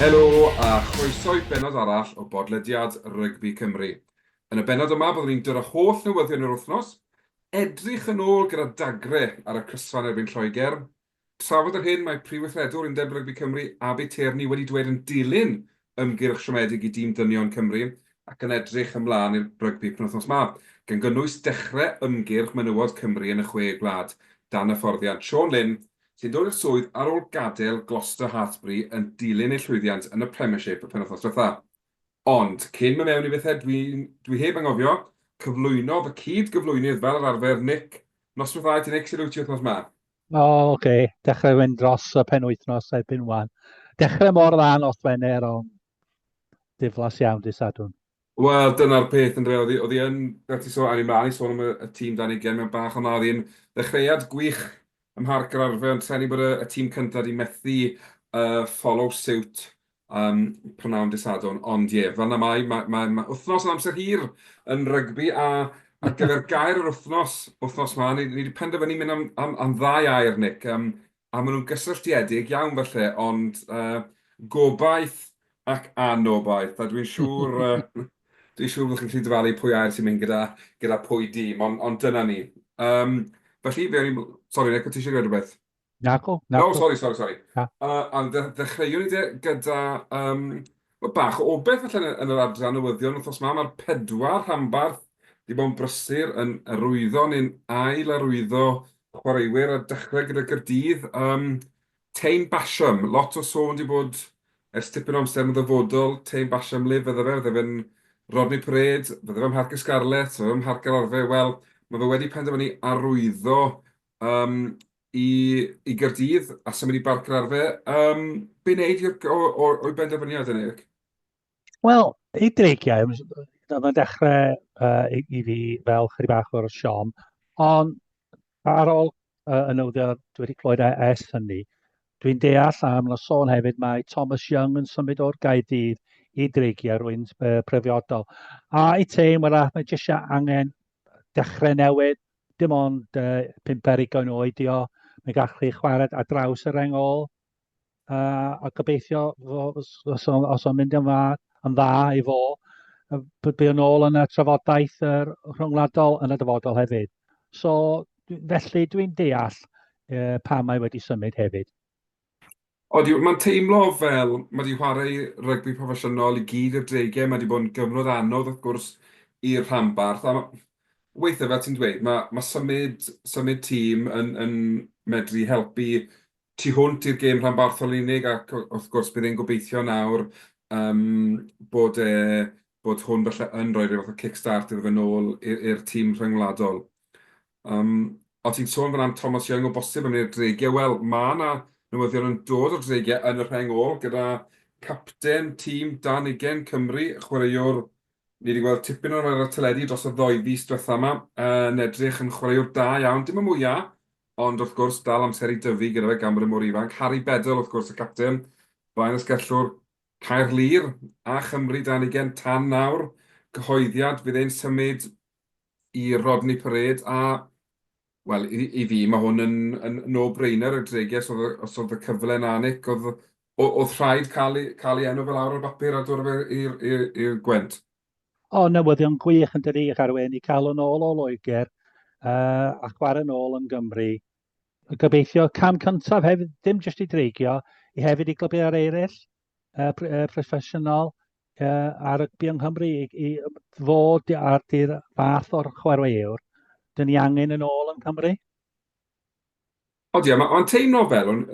Helo a chroeso i bennod arall o bodlediad Rygbi Cymru. Yn y bennod yma byddwn ni'n dod â holl newyddion yr wythnos, edrych yn ôl gyda dagre ar y crysfa yn erbyn Lloegr, Trafod yr hyn mae Prif Weithredwr Undeb Rygbi Cymru, Abi Tierney wedi dweud yn dilyn ymgyrch siomedig i dîm ddynion Cymru ac yn edrych ymlaen i'r rygbi penwythnos 'ma, gan gynnwys dechre ymgyrch menywod Cymru yn y Chwe Gwlad dan hyfforddiant Siôn Lyn sy'n dod i'r swydd ar ôl gadel Gloucester Hartpury yn dilyn ei llwyddiant yn y Premiership y penwythnos dwetha. Ond, cyn my mewn i bethe dwi dwi heb angofio cyflwyno fy cyd gyflwynydd fel yr arfer Nick, noswethau ti'n excited wyt ti wythnos 'ma? O, oh, oce. Okay. Dechrau fynd dros y pen wythnos erbyn wan. Dechrau mor dda nos Wener, ond diflas iawn dy sadwn. Wel, dyna'r peth yn rhaid. Oedd hi yn, fel ti sôn, ar ei mlaen i sôn am y, y tîm dan ei gen mewn bach o mawr. Yn ddechreuad gwych ym Mharc yr Arfe, ond trenu bod y, y tîm cyntaf di methu uh, follow suit Yym, prynawn Dydd Sadwrn, ond ie, fel 'na mae, ma' ma' ma' wythnos yn amser hir yn rygbi a ar gyfer gair yr wythnos, wythnos 'ma, ni ni 'di penderfynu mynd am am am ddau air, Nick, yym, a maen nhw'n gysylltiedig iawn falle, ond yy gobaith ac anobaith, a dwi'n siŵr yy dwi'n siŵr bod chi'n gallu dyfalu pwy air sy'n mynd gyda gyda pwy dim, ond ond dyna ni. Yym, felly, fe awn ni... Sori, Nick, o' ti isie gweud rhywbeth? Naco, naco. No, sorry, sorry, sorry. Ah. Uh, a ddechreuwn ni de gyda um, bach o obeth allan yn yr adran newyddion wrthos ma. Mae'r pedwar rhanbarth wedi bod yn brysur yn arwyddo neu'n ail arwyddo chwaraewyr a dechrau gyda Gyrdydd. Um, Teim Basham, lot o sôn wedi bod ers tipyn o amser yn y ddyfodol. Teim Basham Liv, fydde fe, fydde fe'n Rodney Parade, fydde fe'n Mharc y Scarlet, fydde fe'n Mharc yr Arfe. Wel, mae fe wedi penderfynu arwyddo Yym, i, i Gaerdydd a symud i Barc yr Arfe. Yym, be wneud i'r, o, o, o'i benderfyniad yn Eric? Wel, i dreigiau, oedd yn dechrau uh, i, i fi fel chydig bach o'r siom, ond ar ôl uh, y newyddion dwi wedi clywed e- ers hynny, dwi'n deall am na sôn hefyd mae Thomas Young yn symud o'r Gaerdydd i dreigiau rwy'n uh, prefiodol. A i teim arall, mae jyst angen dechrau newydd, dim ond uh, pimp ar ugain oed di o, mae gallu chi chwarae ar draws yr engol, uh, a gobeithio os, os, os o'n mynd yn dda, yn dda i fo, bydd yn ôl yn y trafodaeth yr rhyngwladol yn y dyfodol hefyd. So, felly dwi'n deall uh, pa mae wedi symud hefyd. Odi, mae'n teimlo fel mae 'di chwarae rygbi proffesiynol i gyd i'r dreigiau, mae 'di bod yn gyfnod anodd wrth gwrs i'r rhanbarth, a weithiau fel ti'n dweud, mae, mae symud, symud tîm yn, yn medru helpu tu hwnt i'r gêm rhanbarthol yn unig, ac wrth gwrs bydd e'n gobeithio nawr um, bod, e, bod hwn felly yn rhoi rhyw fath o kick-start iddo fe nôl i'r tîm rhyngwladol. O ti'n sôn fan 'na am Thomas Young o bosib am un o'r dreigiau. Wel, mae 'na newyddion yn dod o'r dreigiau yn y rheng ôl gyda capten tîm dan ugain Cymru, chwaraewr ni wedi gweld tipyn ohono ar y teledu dros y ddou fis diwetha' 'ma, yn edrych yn chwaraewr da iawn, dim y mwya', ond wrth gwrs dal amser i dyfu gyda fe gan bod e mor ifanc. Harri Bedell wrth gwrs y capten, blaen asgellwr Caerlŷr a Chymru dan ugain tan nawr, cyhoeddiad fydd e'n symud i Rodney Parade a, wel, i, i fi, mae hwn yn, yn no-brainer y dreges oedd, os oedd y cyfle na, Nick, oedd, oedd rhaid cael ei, cael ei enw fel awr o'r bapur a dod i'r Gwent. O, newyddion gwych yn dydi, Garwen, i cael yn ôl o Loegr uh, a chwarae yn ôl yn Gymru. Gobeithio cam cyntaf hefyd, dim jyst i dreigio, i hefyd i glybiau'r eraill, uh, proffesiynol uh, ar rygbi yng Nghymru i, i fod ar dy'r fath o'r chwaraewr. Dyn ni angen yn ôl yn Cymru? O di, mae'n teimlo fel, o'n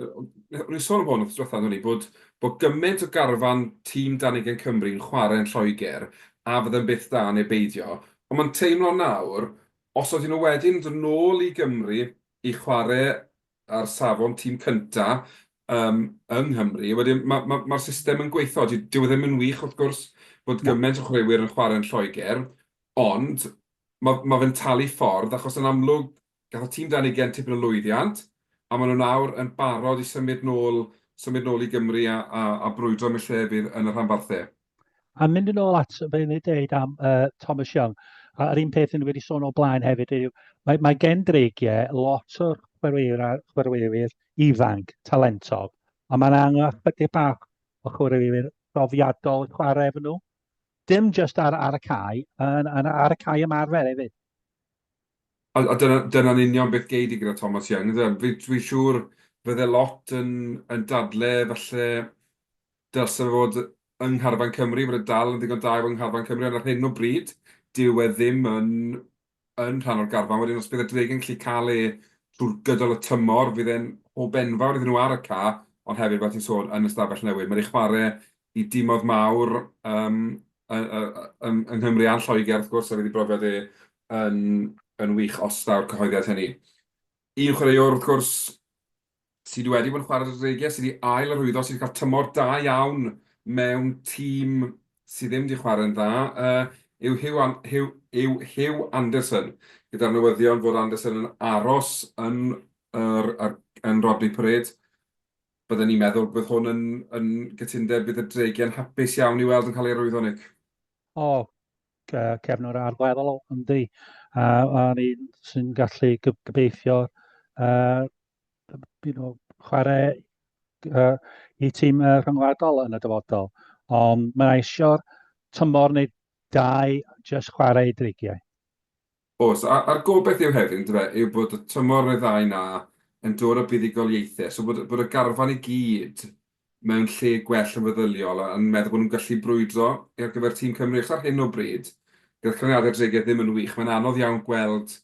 i'n sôn am hwn wrth diwethaf hynny, bod, bod gymaint o garfan tîm dan ugen Cymru yn chwarae yn Lloegr a fydd yn byth da neu beidio. Ond mae'n teimlo nawr, os oedden nhw wedyn dod nôl i Gymru i chwarae ar safon tîm cynta yym yng Nghymru. Wedyn ma' ma' ma'r system yn gweitho. Dy- dyw e ddim yn wych wrth gwrs bod Na. gyment o chwaraewyr yn chwarae yn Lloegr, ond ma' ma' fe'n talu ffordd achos yn amlwg gafodd tîm dan ugain tipyn o lwyddiant, a ma' nhw nawr yn barod i symud nôl symud nôl i Gymru a a a brwydro am eu lle fydd yn y rhanbarthau. A mynd yn ôl at be o'n i'n deud am uh, Thomas Young, a'r un peth yn wedi sôn o blaen hefyd yw, mae, mae gen dreigiau lot o chwaraewyr ifanc, talentog, a mae'n angen ychydig bach o chwaraewyr profiadol yn chwarae efo nhw. Dim just ar, ar y cae, yn, yn, ar y cae ymarfer hefyd. A, a dyna'n dyna union beth geid i gyda Thomas Young. Dwi'n fi siŵr fydde lot yn, yn dadle falle Dylse fe fod yng ngharfan Cymru, bod e dal yn ddigon da i fod yng ngharfan Cymru, ond ar hyn o bryd, dyw e ddim yn yn rhan o'r garfan. Wedyn os bydd y Dregyn yn gallu cael e trwy'r gydol y tymor, fydd e'n hwb enfawr iddyn nhw ar y ca, ond hefyd, fel ti'n sôn, yn ystafell newydd. Mae 'di chwarae i dimoedd mawr yym yy yy yng yng Nghymru a'n Lloegr wrth gwrs, a fydd ei brofiad e yn yn wych os daw'r cyhoeddiad hynny. Un chwaraewr, wrth gwrs, sydd wedi bod yn chwarae dros dreigiau, sydd wedi ail-arwyddo, sydd wedi cael tymor da iawn mewn tîm sydd ddim wedi chwarae'n dda, yw Huw Anderson. Gyda'r newyddion fod Anderson yn aros yn Rodney Parade, bydden ni'n meddwl bydd hwn yn gytundeb bydd y dreigiau'n hapus iawn i weld yn cael ei arwyddo, Nick? O, uh, cefn o'r arweddol o ynddi, a, a ni'n sy'n gallu gobeithio uh, you know, chwarae uh, i tîm uh, rhyngwladol yn y dyfodol. Ond mae eisiau tymor neu dau jyst chwarae dreigiau. Oes, a'r gobaith yw hefyd, yndyfe, yw bod y tymor ryddhau 'na yn dod â buddugoliaethau, so bod y garfan i gyd mewn lle gwell yn feddyliol a yn meddwl bod nhw'n gallu brwydro ar gyfer tîm Cymru, achos ar hyn o bryd, gyda canlyniadau'r dreigiau ddim yn wych, mae'n anodd iawn gweld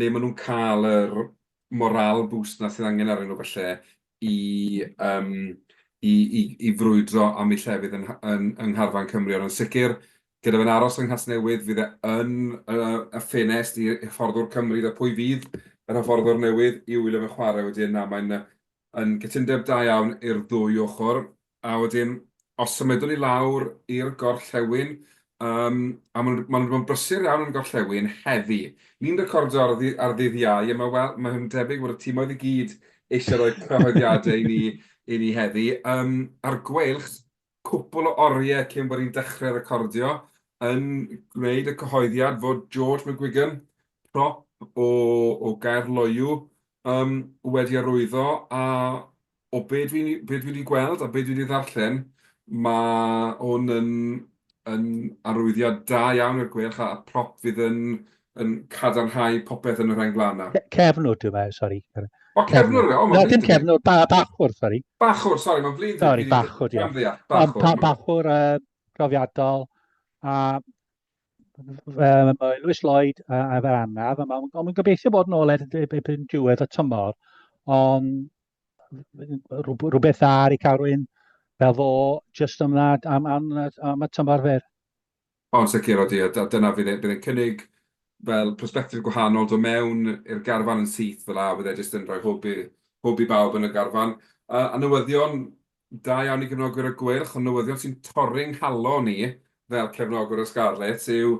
le maen nhw'n cael yr morale boost 'na sydd angen arnyn nhw falle i yym i i i frwydro am eu llefydd yn yng ngharfan Cymru, ond yn sicr Gyda fe'n aros yng Nghasnewydd, fydd e yn y ffenest i hyfforddwr Cymru iddo pwy fydd yr hyfforddwr newydd i wylio fe chwarae wedyn. Na, mae'n yn gytundeb da iawn i'r ddwy ochr. A wedyn, os symudwn ni lawr i'r gorllewin, um, a maen nhw wedi bod yn brysur iawn yn gorllewin heddi. Ni'n recordio ar, ar ddydd iau, a mae'n well, mae debyg bod y tîmoedd i gyd eisiau rhoi cyhoeddiadau i ni, i ni heddi. Um, a'r gweilch, cwpl o oriau cyn bod ni'n dechrau recordio, yn gwneud y cyhoeddiad fod George McGuigan, prop o, o Gaerloyw, um, wedi arwyddo, a o be dwi, be dwi wedi gweld a be dwi wedi ddarllen, mae hwn yn, yn arwyddiad da iawn i'r gwelch, a prop fydd yn yn cadarnhau popeth yn y rheng flaen 'na. Cefnwr dwi mae, sori. O, cefnwr yw e? Na, dim cefnwr, bachwr, sori. Bachwr, sori, mae'n flin. Sori, bachwr, diolch. Bachwr, bachwr profiadol, a mae Lewis Lloyd a, a fer anaf, a mae'n ma gobeithio bod yn ôl erbyn diwedd y tymor, ond rhywbeth dda ar ei cael rwy'n fel fo, jyst am, am, am, am y tymor fer. O yn sicr odi a dyna fydd e, bydd e'n cynnig fel persbectif gwahanol, dod mewn i'r garfan yn syth fel 'a, bydd e jyst yn rhoi hwb i hwb i bawb yn y garfan. A a newyddion da iawn i gefnogwyr y Gweilch, ond newyddion sy'n torri 'nghalon i fel cefnogwr y Scarlets yw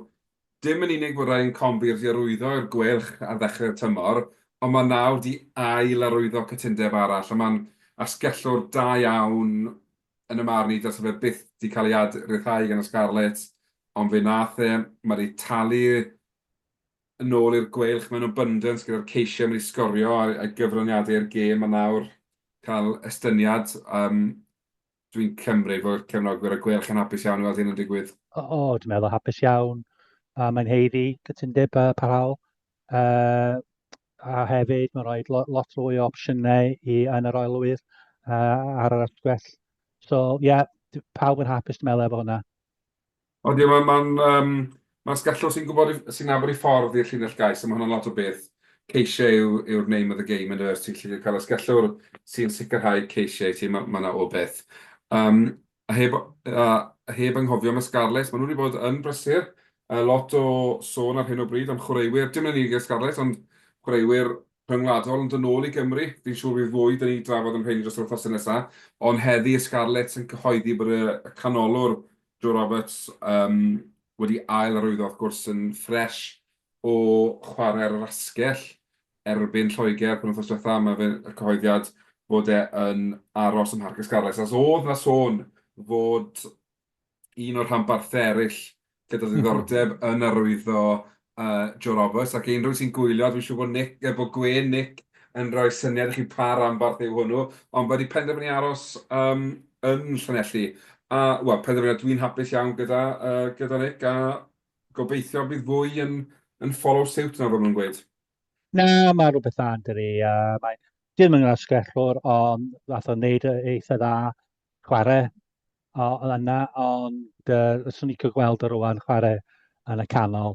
dim yn unig bod Ryan Combier 'di arwyddo i'r Gweilch ar ddechrau'r tymor, ond mae nawr 'di ail-arwyddo cytundeb arall a mae'n asgellwr da iawn yn y marn i dylse fe byth di cael ei ad ryddhau gan y Scarlets ond fe nath e, ma di talu yn ôl i'r Gweilch mewn abundance gyda'r ceisiau ma di sgorio a'i a'i gyfraniadau i'r gêm a nawr cael estyniad yym dwi'n cymryd bod cefnogwyr y Gweilch yn hapus iawn i weld hyn yn digwydd. O, o, dwi'n meddwl hapus iawn a mae'n haeddu cytundeb uh, parhaol. Uh, a hefyd mae'n rhoi lot, lot fwy o opsiynau i yn yr oelwyr uh, ar yr atgwell. So, ie, yeah, pawb yn hapus dwi'n meddwl efo hwnna. O, di, mae'n ma, ma, um, ma sgallwch sy'n gwybod, sy'n nabod i ffordd i'r llinell gais, a mae hwnna'n lot o beth. Ceisiau yw, yw'r name of the game yn yr ti'n lli cael ysgallwr sy'n sicrhau ceisiau, ti'n mae yna o beth. Um, A heb a heb anghofio am y Scarlets, maen nhw wedi bod yn brysur. Uh, lot o sôn ar hyn o bryd am chwaraewyr, dim yn unig y Scarlets, ond chwaraewyr rhyngwladol yn dynol i Gymru. Fi'n siŵr bydd fwy dyn ni drafod am rheini dros yr wythnosau nesaf. Ond heddi y Scarlets yn cyhoeddi bod y canolwr Joe Roberts um, wedi ail arwyddo, wrth gwrs, yn ffres o chwarae ar yr asgell. erbyn Lloegr penwythnos diwetha, mae fe'n y cyhoeddiad fod e yn aros ym Mharc y Scarlets, achos oedd 'na sôn fod un o'r rhanbarthau eraill gyda diddordeb yn arwyddo Joe Roberts, ac unrhyw un sy'n gwylio, dwi'n siŵr bod Nick, bod gwên Nick yn rhoi syniad i chi pa ranbarth yw hwnnw, ond wedi penderfynu aros yn Llanelli. A, wel, penderfyniad dwi'n hapus iawn gyda, gyda Nick, a gobeithio bydd fwy yn yn follow suit nawr fel maen nhw'n gweud. Na, mae rhywbeth dda yn dy ri. Yy, mae... Dwi ddim yn asgellwr, ond wnaeth o wneud yy eitha dda chwarae o o yna, ond yy 'swn i'n licio gweld o rŵan chwarae yn y canol,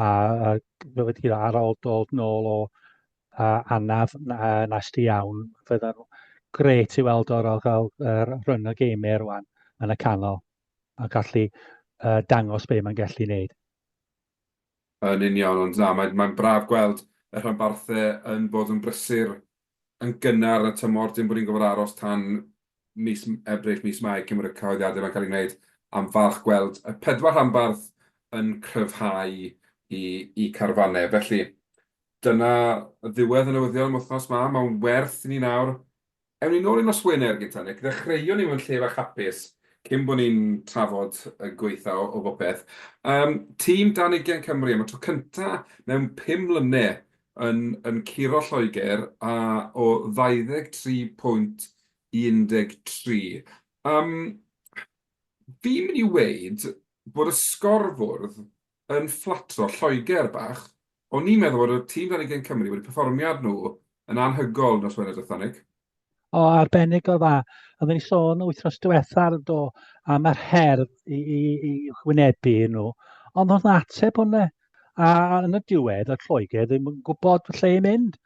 a a fel wedi dweud, ar ôl dod nôl o yy anaf n- yy nasty iawn, fydda'n grêt i weld o ar ôl cael yr run o geimiau rŵan yn y canol, a gallu yy dangos be mae'n gallu wneud. Yn union, ond na, mae'n mae'n braf gweld y rhanbarthau yn bod yn brysur yn gynnar yn y tymor, dim bod ni'n gorfod aros tan mis Ebrill, mis Mai cyn bod y cyhoeddiadau yma'n cael eu gwneud, a'n falch gweld y pedwar rhanbarth yn cryfhau i i carfannau. Felly, dyna ddiwedd y newyddion am wythnos 'ma, mae'n werth i ni nawr Ewn ni nôl i nos Wener gynta Nick. Ddechreuon ni mewn lle fach hapus cyn bo ni'n trafod y gwaetha o bopeth. Yym, tîm dan ugain Cymru am y tro cynta mewn pum mlyne yn yn curo Lloegr a o 23 pwynt i 13. Yym, fi'n mynd i weud bod y sgorfwrdd yn fflatro Lloegr bach, o'n i'n meddwl bod y tîm dan ugain Cymru wedi perfformiad nhw yn anhygoel nos Wener diwetha Nick. O, arbennig o dda. Oedden ni sôn wythnos diwetha do, am yr her i, i, i wynebu nhw. Ond oedd ateb hwnna. A yn y diwedd, y Lloegr ddim yn gwybod lle i mynd.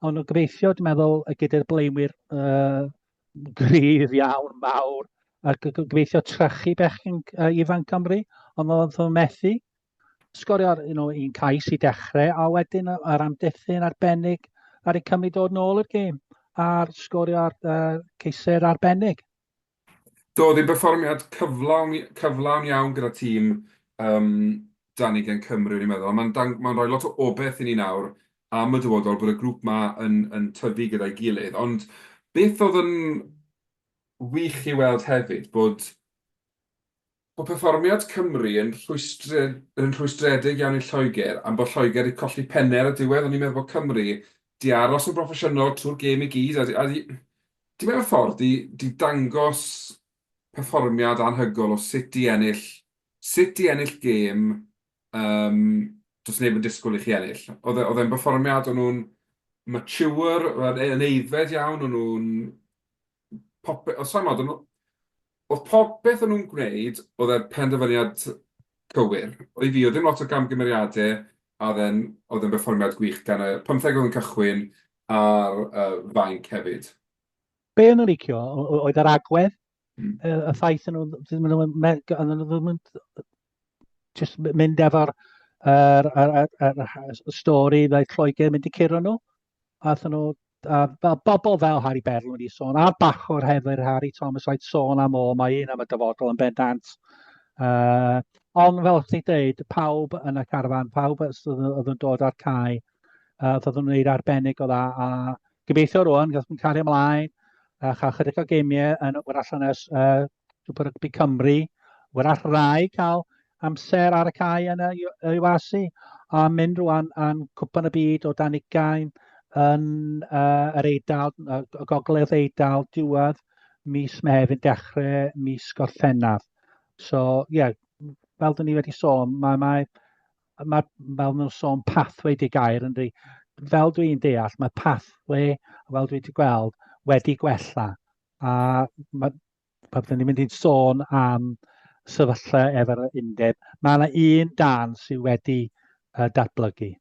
Ond o gobeithio, dwi'n meddwl, gyda'r blaenwyr uh, Gryf iawn, mawr, a gobeithio trechu bechgyn uh, ifanc Cymru, ond oedd yn methu. Sgorio'r you know, un cais i dechrau, a wedyn yr amddiffyn arbennig ar ei Cymru dod nôl i'r gêm, a'r sgorio'r uh, ceisau'r arbennig. Doedd ei berfformiad cyflawn, cyflawn iawn gyda tîm um, 'da ni gen Cymru, o'n i'n meddwl, a mae'n dang- mae'n rhoi lot o obaith i ni nawr am y dyfodol bod y grŵp 'ma yn yn tyfu gyda'i gilydd. Ond beth oedd yn wych i weld hefyd bod bod perfformiad Cymru yn rhwystre- yn rhwystredig iawn i Lloegr am bod Lloegr 'di colli penne ar y diwedd, o'n i'n meddwl bod Cymru 'di aros yn broffesiynol trwy'r gêm i gyd a 'di a 'di 'di mewn ffordd 'di 'di dangos perfformiad anhygoel o sut i ennill, sut i ennill gêm yym does neb yn disgwyl i chi ennill. Oedd e oedd e'n berfformiad, o'n nhw'n mature, yn yn aeddfed iawn, o'n nhw'n pope- o, sai'n gwybod, o'n nhw- oedd popeth o'n nhw'n gwneud, oedd e'r penderfyniad cywir. I fi, oedd dim lot o gamgymeriadau, a oedd e'n oedd e'n berfformiad gwych gan y pymtheg oedd yn cychwyn a'r yy fainc hefyd. Be o'n nhw'n licio oedd yr agwedd, hmm. y ffaith yn nhw'n just mynd efo'r er, er, er, er, er, stori ddaeth Lloegr mynd i curo nhw. A nhw, a, a bobl fel Harry Berl wedi sôn, a bachwr hefyd Harry Thomas oedd sôn am o, mae un am y dyfodol yn bendant. Uh, ond fel chdi dweud, pawb yn y carfan, pawb oedd yn dod ar cae, Uh, oedd yn wneud arbennig o dda. A gobeithio rwan, gael yn cario ymlaen a chael chydig o geimiau yn yr allan ys uh, Super Rugby Cymru. Wrach rai cael amser ar y cae yn y UASI a mynd rwan yn cwpan y byd o dan ugain yn uh, yr Eidal, uh, gogledd Eidal, diwedd mis Mehefin, dechrau mis Gorffennaf. So, ie, yeah, fel dyn ni wedi sôn, mae, mae mae, fel nhw'n sôn, pathway di gair yn di. Fel dwi'n deall, mae pathway, fel dwi wedi gweld, wedi gwella. A mae, pan dyn ni'n mynd i'n sôn am sefyllfa efo'r undeb, mae yna un dan sydd wedi uh, datblygu.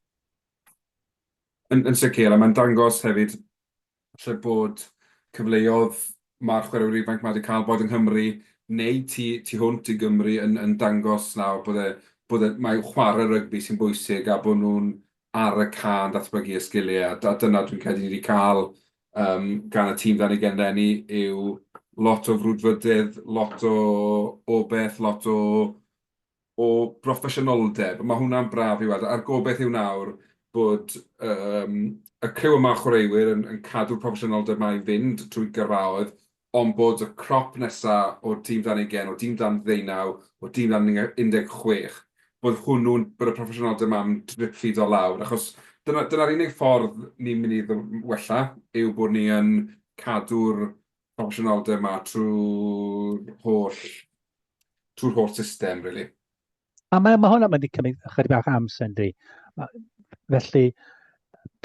Yn, yn sicr, a mae'n dangos hefyd Falle bod cyfleodd ma'r chwaraewyr ifanc 'ma 'di ca'l bod yng Nghymru neu tu tu hwnt i Gymru yn yn dangos nawr bod e bod e mae chware rygbi sy'n bwysig a bod nhw'n ar y ca'n datblygu y sgilie a a dyna dwi'n credu ni 'di ca'l yym gan y tîm 'dan ni gen leni yw lot o frwdfrydydd, lot o o beth, lot o o broffesiynoldeb. Mae hwnna'n braf i weld, a'r gobaith yw nawr bod y criw yma o chwaraewyr yn cadw'r proffesiynoldeb 'ma i fynd trwy gyrfaoedd, ond bod y crop nesa o dîm dan ugain, o dîm dan ddeunaw, o dîm dan 16, bod hwnnw'n, bod y proffesiynoldeb 'ma'n drip-ffido lawr, achos dyna'r unig ffordd ni'n mynd i wella yw bod ni yn cadw'r proffesiynoldeb 'ma trwy'r holl... trwy'r holl system, rili. A mae, mae hwnna'n mynd i cymryd ychydig bach amser, ynddi. Felly,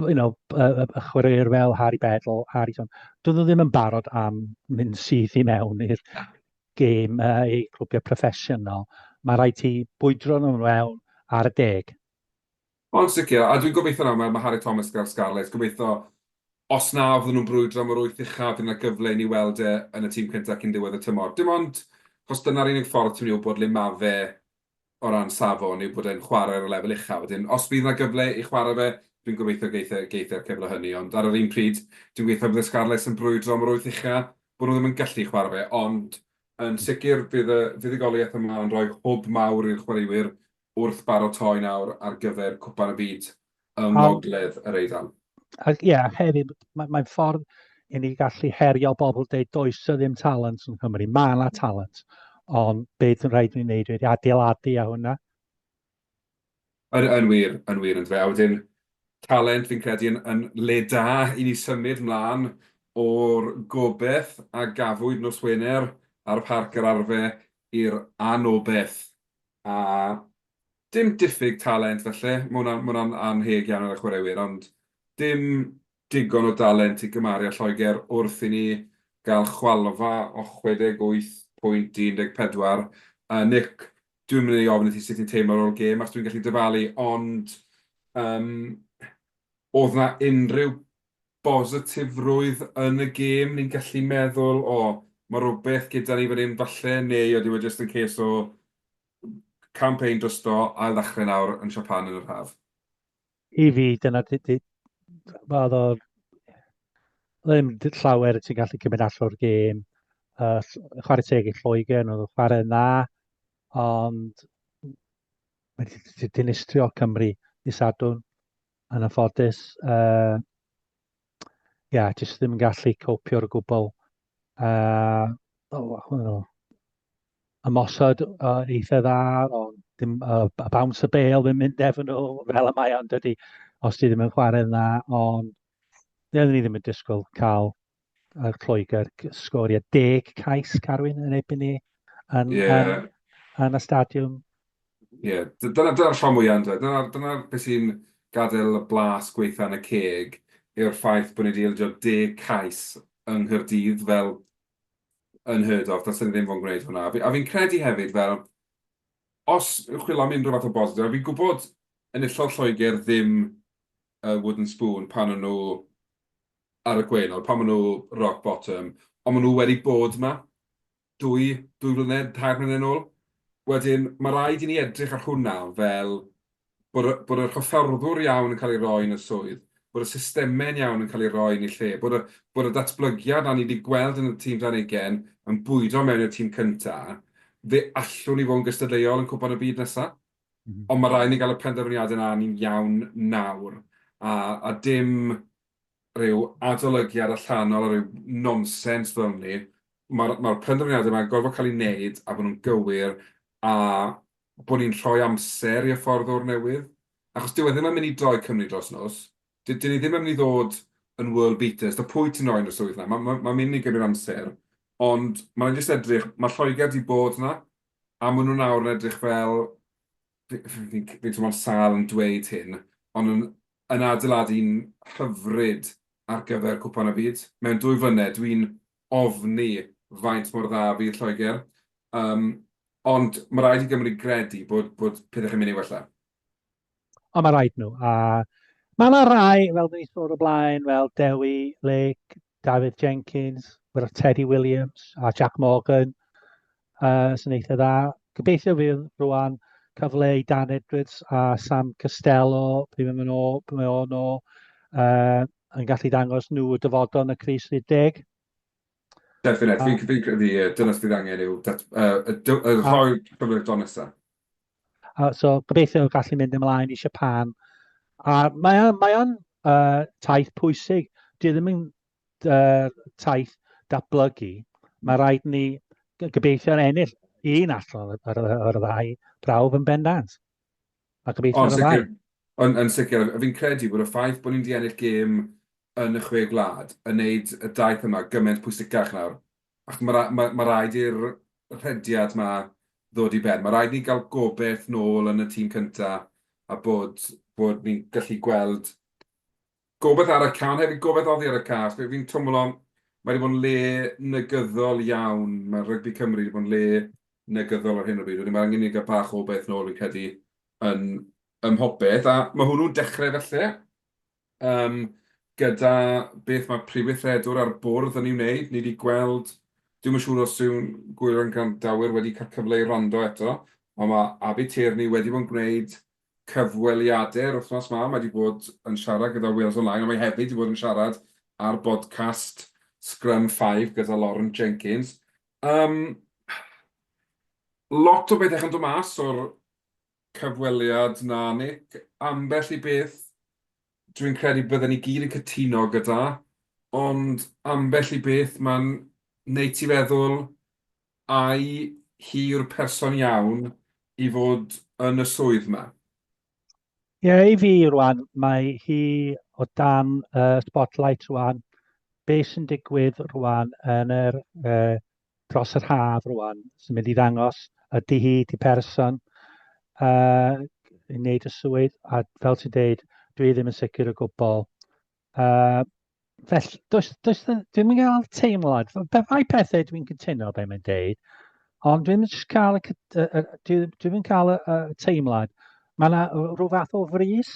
you know, y, y chwaraewyr fel Harry Bedell, Harry John, dyn nhw ddim yn barod am mynd syth i mewn i'r gêm uh, ei clwbiau proffesiynol. Mae rhaid ti bwydro nhw mewn ar y deg. Yn sicr, a dwi'n gobeithio nawr, mae Harri Thomas gyda'r Scarlets, gobeithio os na fydden nhw'n brwydro am yr wyth uchaf, fydd 'na gyfle i ni weld e yn y tîm cyntaf cyn diwedd y tymor. Dim ond, achos dyna'r unig ffordd ti'n mynd i wybod le ma' fe o ran safon, yw bod e'n chwarae ar y lefel uchaf. Wedyn, os fydd 'na gyfle i chwarae fe, dwi'n gobeithio geith e, geith e'r cyfle hynny. Ond ar yr un pryd, dwi'n gobeithio bydd y Scarlets yn brwydro am yr wyth ucha', bod nhw ddim yn gallu chwarae fe. Ond yn sicr, bydd y fuddugoliaeth yma yn rhoi hwb mawr i'r chwaraewyr wrth baratoi nawr ar gyfer Cwpan y Byd yng Ngogledd yr Eidal. Ac ie, hefyd, mae'n mae ffordd i ni gallu herio bobl dweud does y ddim talent yn Cymru. Mae yna talent, ond beth yn rhaid i ni wneud wedi adeiladu a hwnna? Yn, yn wir, yn wir, yn dweud. A wedyn, talent fi'n credu yn, yn le da i ni symud mlaen o'r gobeth a gafwyd nos Wener ar y parc yr arfe i'r anol beth a dim diffyg talent falle, ma' hwnna'n ma' hwnna'n annheg iawn ar y chwaraewyr ond dim digon o dalent i gymaru â Lloegr wrth i ni gael chwalfa o 68 pwynt i 14 a Nick dwi'm yn mynd i ofyn i ti sut ti'n teimlo ar ôl gêm achos dwi'n gallu dyfalu ond yym o'dd 'na unrhyw bositifrwydd yn y gêm, ni'n gallu meddwl, o, mae rhywbeth gyda ni fan hyn falle, neu ydy e jyst yn case o campaign drysto, ail ddechrau nawr yn Japan yn yr haf? I fi, dyna, oedd o ddim llawer ti'n gallu cymryd allan o'r gêm. Uh, chwarae teg i Lloegr, oedd y chwarae yna, ond mae wedi dinistrio Cymru i sadwn. yn anffodus. Uh, ia, yeah, jyst ddim yn gallu copio o'r gwbl. Uh, oh, oh, ymosod uh, eitha dda, ond dim, uh, bounce y bel ddim mynd efo nhw, fel y mae ond dydy, os ti ddim yn chwarae dda, ond dyn ni ddim yn disgwyl cael yn Lloegr, sgorio deg cais Carwyn yn erbyn ni yn, yeah. yn, yn y stadiwm. Ie, yeah. dyna'r dyna rhan mwyaf yn dweud. Dyna'r dyna beth sy'n gadael y blas gweitha yn y ceg yw'r ffaith bod ni wedi ildio deg cais yng Nghyrdydd fel yn hyrd of, dylsyn ni ddim fo'n gwneud hwnna. A fi'n credu hefyd fel, os yw'ch chwilio am unrhyw fath o bositif, a fi'n gwybod yn illol Lloegr ddim uh, wooden spoon pan nhw ar y gwaelod, pan maen nhw rock bottom, ond maen nhw wedi bod yma dwy, dwy flynedd, tair mlynedd yn ôl. Wedyn, mae rhaid i ni edrych ar hwnna fel bod, y, bod yr hyfforddwr iawn yn cael ei roi yn y swydd, bod y systemau'n iawn yn cael ei roi yn ei lle, bod y, bod y datblygiad a ni wedi gweld yn y tîm dan ugen yn bwydo mewn i'r tîm cyntaf, fe allwn ni fod yn gystadleuol yn cwpan y byd nesaf. Mm -hmm. Ond mae rhaid ni gael y penderfyniadau yna ni'n iawn nawr. A, a dim rhyw adolygiad allanol a rhyw nonsens fel hynny, mae'r mae'r penderfyniadau yma'n gorfod cael eu wneud a bod nhw'n gywir a bod ni'n rhoi amser i hyfforddwr newydd, achos dyw e ddim yn mynd i droi Cymru dros nos. Dy- dyn ni ddim yn mynd i ddod yn world beaters, ta pwy ti'n rhoi yn y swydd 'na, ma' ma' ma'n mynd i gymryd amser, ond ma' raid ni jyst edrych, ma' Lloegr 'di bod 'na, a maen nhw nawr yn edrych fel fi'n teimlo'n sâl yn dweud hyn, ond yn yn adeiladu'n hyfryd ar gyfer Cwpan y Byd. Mewn dwy flynedd, dwi'n ofni faint mor dda fydd Lloegr, um, ond mae rhaid i Gymru gredu bod, bod pethau chi'n mynd i wella. Ond mae rhaid nhw, a Mae yna rai, fel dyn ni sôn o blaen, fel Dewi, Lake, Dafydd Jenkins, gyda Teddy Williams a Jack Morgan uh, sy'n eitha dda. Gobeithio fydd rwan cyfle i Dan Edwards a Sam Costello, pryd mae'n mynd o, pryd mae'n o'n o, uh, yn gallu dangos nhw y dyfodol yn y Cris 30. Definite, fi'n credu, dyna sydd angen yw, y rhoi cyfle'r donesau. Uh, so gobeithio gallu mynd ymlaen i Siapan. A mae o'n mae on, uh, taith pwysig. Dwi e ddim yn uh, taith datblygu. Mae rhaid ni gobeithio yn ennill un allan ar y ddau brawf yn bendant. A gobeithio yn y ddau. Yn, yn sicr, fi'n credu bod y ffaith bod ni'n di ennill gêm yn y chwe gwlad yn neud y daith yma gymaint pwysicach nawr. Ac mae rha- mae, mae rhaid i'r rhediad ma ddod i ben. Mae rhaid ni gael gobeith nôl yn y tîm cynta a bod, bod ni'n gallu gweld gobeith ar y ca, ond hefyd gobeith oddi ar y ca. Fe- Fi'n twmlo, mae wedi bod yn le negyddol iawn. Mae rygbi Cymru wedi bod yn le negyddol ar hyn o bryd. Wedyn mae angen i ni gael bach o obeith nôl, fi'n credu, yn, ym mhopeth. A mae hwnnw'n dechrau falle. Yym, gyda beth mae Prif Weithredwr a'r Bwrdd yn ei wneud, ni 'di gweld... Dwi'm yn siŵr os yw Gwyliwr a'n gwrandawyr wedi cael cyfle i wrando eto, ond mae Abi Tierney wedi bod yn gwneud cyfweliadau yr wythnos 'ma. Mae 'di bod yn siarad gyda Wales Online, ond mae hefyd 'di bod yn siarad ar bodcast Scrum Five gyda Lauren Jenkins. Yym, lot o bethau yn dod mas o'r Cyfweliad, na Nick, ambell i beth dwi'n credu bydden ni gyd yn cytuno gyda, ond ambell i beth mae'n wneud ti feddwl ai hi yw'r person iawn i fod yn y swydd yma? Ie, i fi rwan, mae hi o dan y spotlight rwan. Be sy'n digwydd rwan yn yr uh, dros yr haf rwan sy'n mynd i ddangos ydy hi di person uh, i wneud y swydd a fel ti'n deud dwi ddim yn sicr o gwbl. Uh, felly, does, does, dwi'n mynd gael teimlad, fe fai pethau dwi'n cytuno beth mae'n deud, ond dwi'n mynd cael y, uh, dwi'n mynd cael y, y teimlad, mae yna rhyw fath o frys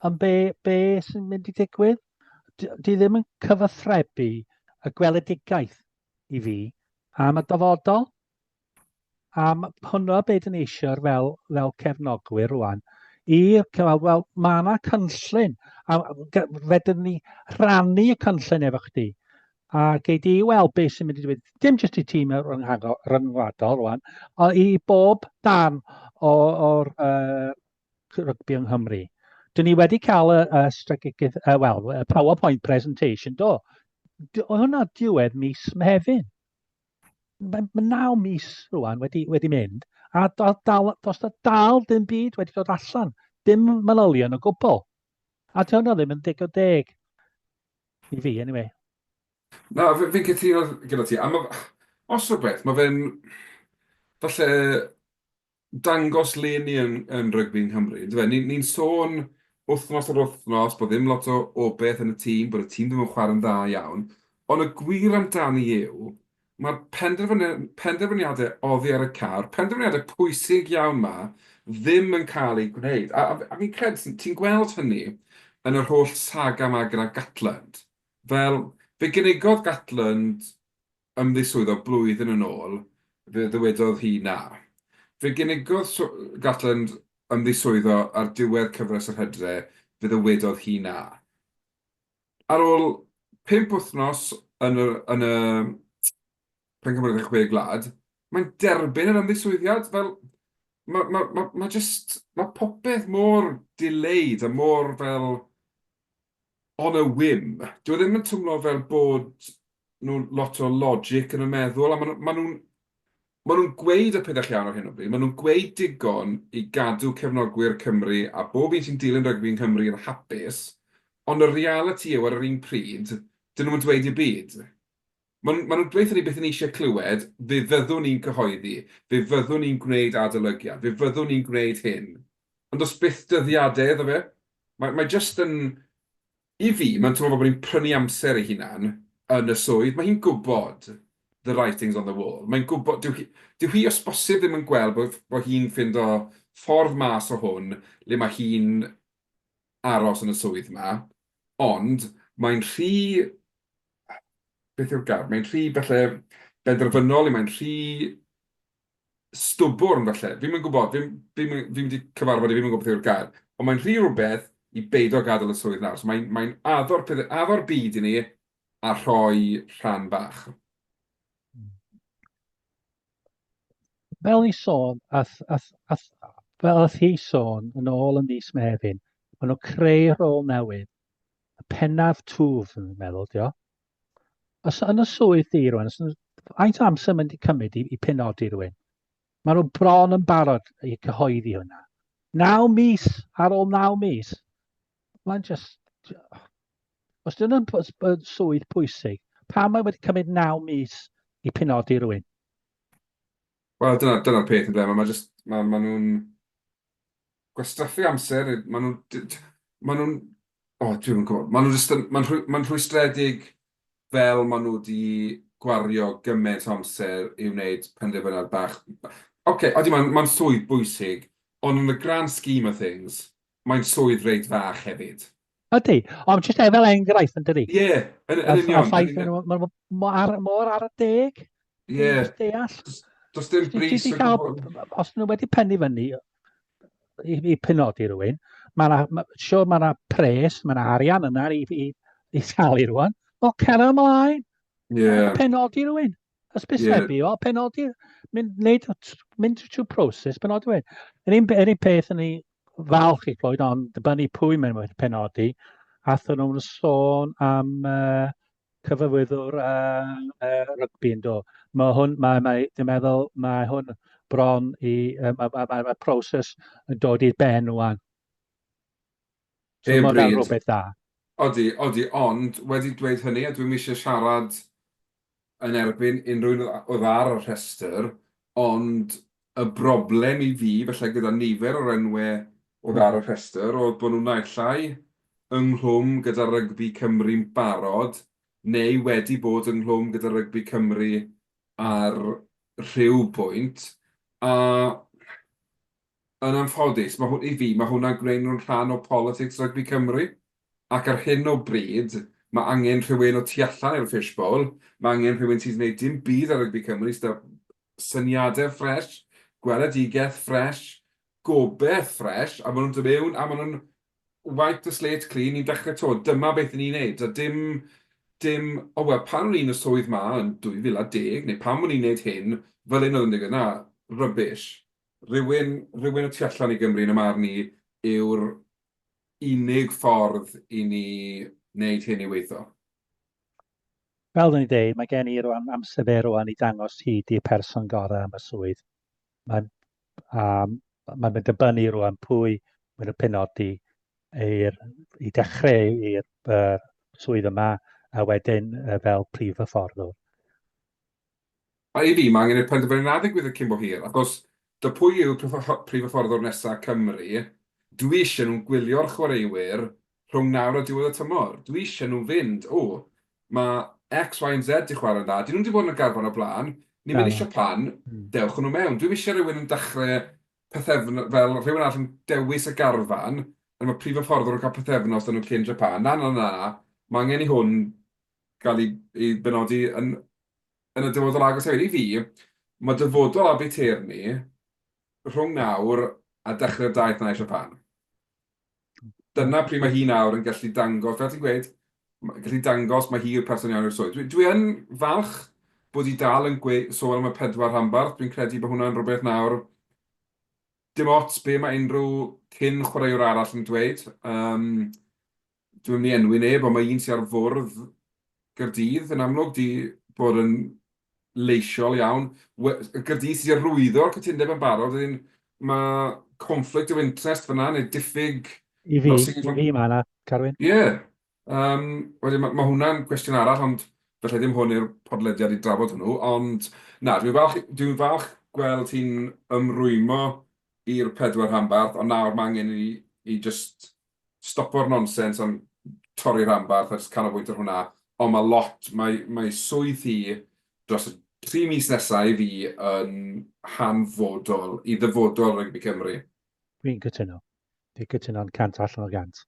am be, be sy'n mynd i ddigwydd. Di ddim yn cyfathrebu y gweledigaeth i fi am y dyfodol, am hwnnw beth yn eisiau fel, fel cefnogwyr rwan, i cyfal, wel, mae yna cynllun, a fedrwn ni rhannu y cynllun efo chdi, a gei di weld beth sy'n mynd i ddweud, dim jyst i tîm ryngwladol rwan, ond i bob dan o'r uh, rygbi yng Nghymru. Dyn ni wedi cael y, y strategaeth, uh, well, y PowerPoint presentation, do. do hwnna diwedd mis Mehefin. Mae ma naw mis rwan wedi, wedi mynd, a dal, dal, dos da dal dim byd wedi dod allan. Dim manylion o gwbl. A ti hwnna ddim yn deg o deg. I fi, anyway. Na, fi'n fi cytuno gyda ti. A ma, os rhywbeth, mae fe'n... Falle dangos le ni yn yn rygbi yng Nghymru yndyfe? Ni ni'n sôn wythnos ar wythnos bod ddim lot o o beth yn y tîm, bod y tîm ddim yn chwarae'n dda iawn, ond y gwir amdani yw, mae'r penderfynu- penderfyniadau oddi ar y car, penderfyniadau pwysig iawn 'ma, ddim yn cael eu gwneud. A a a fi'n credu ti'n ti'n gweld hynny yn yr holl saga 'ma gyda Gatland. Fel, fe gynigodd Gatland ymddiswyddo blwyddyn yn ôl, fe ddywedodd hi na. Fe gynigodd Gatland ymddiswyddo ar ddiwedd cyfres yr Hydre, fe ddywedodd hi na. Ar ôl pump wythnos yn y yn y Pencampwriaeth y Chwe Gwlad, mae'n derbyn yr ymddiswyddiad. Fel, mae ma, ma, ma jyst, mae popeth mor delayed a mor fel, on a whim. Dyw e ddim yn twmlo fel bod nhw lot o logic yn y meddwl, a ma' nhw, ma' nhw'n, ma' nhw'n gweud y pethau llawn ar hyn o bryd, ma' nhw'n gweud digon i gadw cefnogwyr Cymru a bob un sy'n dilyn rygbi yng Nghymru yn hapus, ond y realiti yw ar yr un pryd, 'dyn nhw'm yn dweud dim byd. Maen nhw'n dweud wrthyn ni beth 'y ni eisiau clywed, fe fyddwn ni'n cyhoeddi, fe fyddwn ni'n gwneud adolygiad, fe fyddwn ni'n gwneud hyn. Ond does byth dyddiadau iddo fe. Mae, mae jyst yn, i fi, mae'n teimlo fel bod ni'n prynu amser ei hunan yn y swydd. Mae hi'n gwybod the writing's on the wall. Mae'n gwybod, dyw hi, dyw hi os bosib ddim yn gweld bod, bod hi'n ffindo ffordd mas o hwn le mae hi'n aros yn y swydd 'ma. Ond mae'n rhy beth yw'r gair? Mae'n rhy falle benderfynol, mae'n rhy stwbwrn falle. Fi'n mynd gwybod, fi'n fi, fi, fi wedi cyfarfod i fi'n gwybod beth yw'r gair. Ond mae'n rhy rhywbeth i beido gadael y swydd nawr. So mae'n mae addo'r, addo'r byd i ni a rhoi rhan bach. Fel ni sôn, ath, ath, ath, fel ath hi sôn yn ôl yn mis Mefin, maen nhw'n creu rôl newydd y pennaf twf, yn meddwl, dio. Os yn y swydd di rwan, faint o amser mynd i cymryd i, i penodi rhywun? Mae nhw bron yn barod i cyhoeddi hwnna. Naw mis, ar ôl naw mis. Mae'n just... Os dyn nhw'n swydd pwysig, pa mae wedi cymryd naw mis i penodi rhywun? Wel, dyna'r dyna peth yn ble. Mae ma, ma nhw'n gwastraffu amser, maen nhw'n... maen nhw'n... o, dwi ddim yn gwybod. Maen nhw jyst yn... maen nhw... maen nhw'n rhwystredig fel maen nhw wedi gwario gymaint o amser i wneud penderfyniad bach. Ok, odi, maen... maen swydd bwysig, ond yn y grand scheme of things, mae'n swydd reit fach hefyd. Ydy, ond jyst e fel enghraifft yn dydi? Ie, yeah, yn, yn union. A ffaith, mae'n mor ar y deg. Ie. Yeah. Deall. Does dim bris o gwbl. Os nhw wedi pennu fyny i, i penodi rhywun, mae'n ma, sure mae yna pres, mae yna arian yna i, i, i talu rhywun. O, cer ymlaen. Ie. Yeah. Penodi rhywun. Hysbysebu, yeah. o, penodi, mynd, neud, mynd trwy proses, penodi wedi. Yr un, yr un peth yn ei falch i Floyd, ond dybynnu pwy mae'n wedi penodi, athyn nhw'n sôn am uh, cyfywyddwr uh, uh, rygbi yn do. Mae hwn, mae, mae, dwi'n meddwl, mae hwn bron i, uh, mae, mae, mae, mae proses yn dod i'r ben o'n. So, mae hwnna'n rhywbeth da. Odi, odi, ond wedi dweud hynny, a dwi'n eisiau siarad yn erbyn unrhyw un oedd ar y rhestr, ond y broblem i fi, falle gyda nifer o'r enwau oedd ar y rhestr, oedd bod nhw naill ai ynghlwm gyda rygbi Cymru'n barod neu wedi bod ynghlwm gyda rygbi Cymru ar rhyw bwynt, a yn anffodus, mae hw- i fi, mae hwnna'n gwneud nhw'n rhan o politics rygbi Cymru. ac ar hyn o bryd mae angen rhywun o tu allan i'r fish bowl, mae angen rhywun sydd wneud dim byd ar rygbi Cymru, sydd â syniadau ffresh, gweledigaeth ffresh, gobeith ffresh, a maen nhw'n dod mewn a maen nhw'n wipe the slate clean, ni'n dechrau to, dyma beth ni'n wneud, a dim, dim, o wel, pan o'n i'n y swydd ma yn 2010, neu pan o'n i'n wneud hyn, fel un oedd yn digwydd, na, rubbish. Rhywun, rhywun o tu allan i Gymru yn y marn i yw'r unig ffordd i ni wneud hyn i weithio. Fel o'n i'n dweud, mae gen i rwan amser fe rwan i dangos hi di'r person gorau am y swydd. Mae'n um, mae mynd dibynnu rwan pwy mae'n y penodi i'r, i dechrau i'r uh, swydd yma a wedyn uh, fel prif hyfforddwr. A ydi, mae angen i'r penderfyniad yna ddigwydd cyn bo hir, achos do pwy yw prif hyfforddwr nesa Cymru? Dw i ishe nhw'n gwylio'r chwaraewyr rhwng nawr a diwedd y tymor. Dw i ishe nhw fynd, O, mae X, Y and Z di chwarae'n dda, dyn nhw'm di bod yn y garfan o blaen, ni ddim yn ishe pan, dewch â nhw mewn. Dw i'm ishe rhywun yn dechre pythefnos, fel rhywun arall yn dewis y garfan, a ma prif hyfforddwr yn cael pythefnos da nhw cyn japan. Na, na, na, na, mae angen i hwn gael ei, ei benodi yn, yn y dyfodol agos hefyd. I fi, mae dyfodol Aberteir ni rhwng nawr a dechrau'r daith na eisiau pan. Dyna pryd mae hi nawr yn gallu dangos, fel ti'n gweud, gallu dangos mae hi'r person iawn i'r swydd. Dwi, dwi yn falch bod hi dal yn gweud, sôn am y pedwar rhanbarth, dwi'n credu bod hwnna'n rhywbeth nawr dim ots be mae unrhyw cyn chwaraewr arall yn dweud. Um, Dwi'm yn mynd i enwi neb ond mae un sy ar fwrdd Gaerdydd yn amlwg 'di bod yn leisiol iawn. We- y Gaerdydd sy 'di arwyddo'r cytundeb yn barod wedyn ma' conflict of interest fan'na neu diffyg... I fi, i fi ma' 'na Carwyn. Ie yym wedyn ma' ma' hwnna'n cwestiwn arall ond falle ddim hwn yw'r podlediad i drafod hwnnw ond na dwi'n falch i- dwi'n falch gweld ti'n ymrwymo i'r pedwar rhanbarth ond nawr ma' angen i ni i jyst stopo'r nonsens am torri rhanbarth a jyst canolbwyntio ar hwnna. Ond mae lot, mae, mae swydd hi dros y tri mis nesaf i fi yn hanfodol i ddyfodol rygbi Cymru. Dwi'n cytuno. Dwi'n cytuno'n cant allan o gant.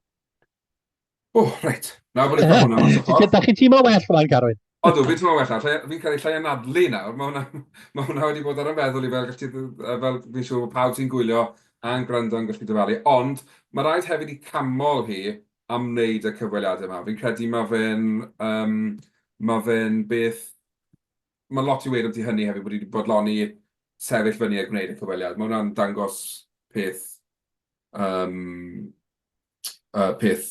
O, reit. Na, bod e'n cael hwnna mas o ffordd. Da chi tîm o well, Rhaid Garwyn. Odw, fi'n teimlo well nawr, fi'n cael ei llai anadlu nawr, mae hwnna, ma hwnna wedi bod ar y meddwl i fel, gallu, fel fi'n siŵr bod pawb sy'n gwylio a'n gwrando yn gallu dyfalu, ond mae rhaid hefyd i camol hi am wneud y cyfweliadau yma. Fi'n credu mae fe'n, um, mae fe'n beth, mae lot i weid am ti hynny hefyd, bod wedi bodloni sefyll fyny a gwneud y cyfweliad. Mae hwnna'n dangos peth um, uh, peth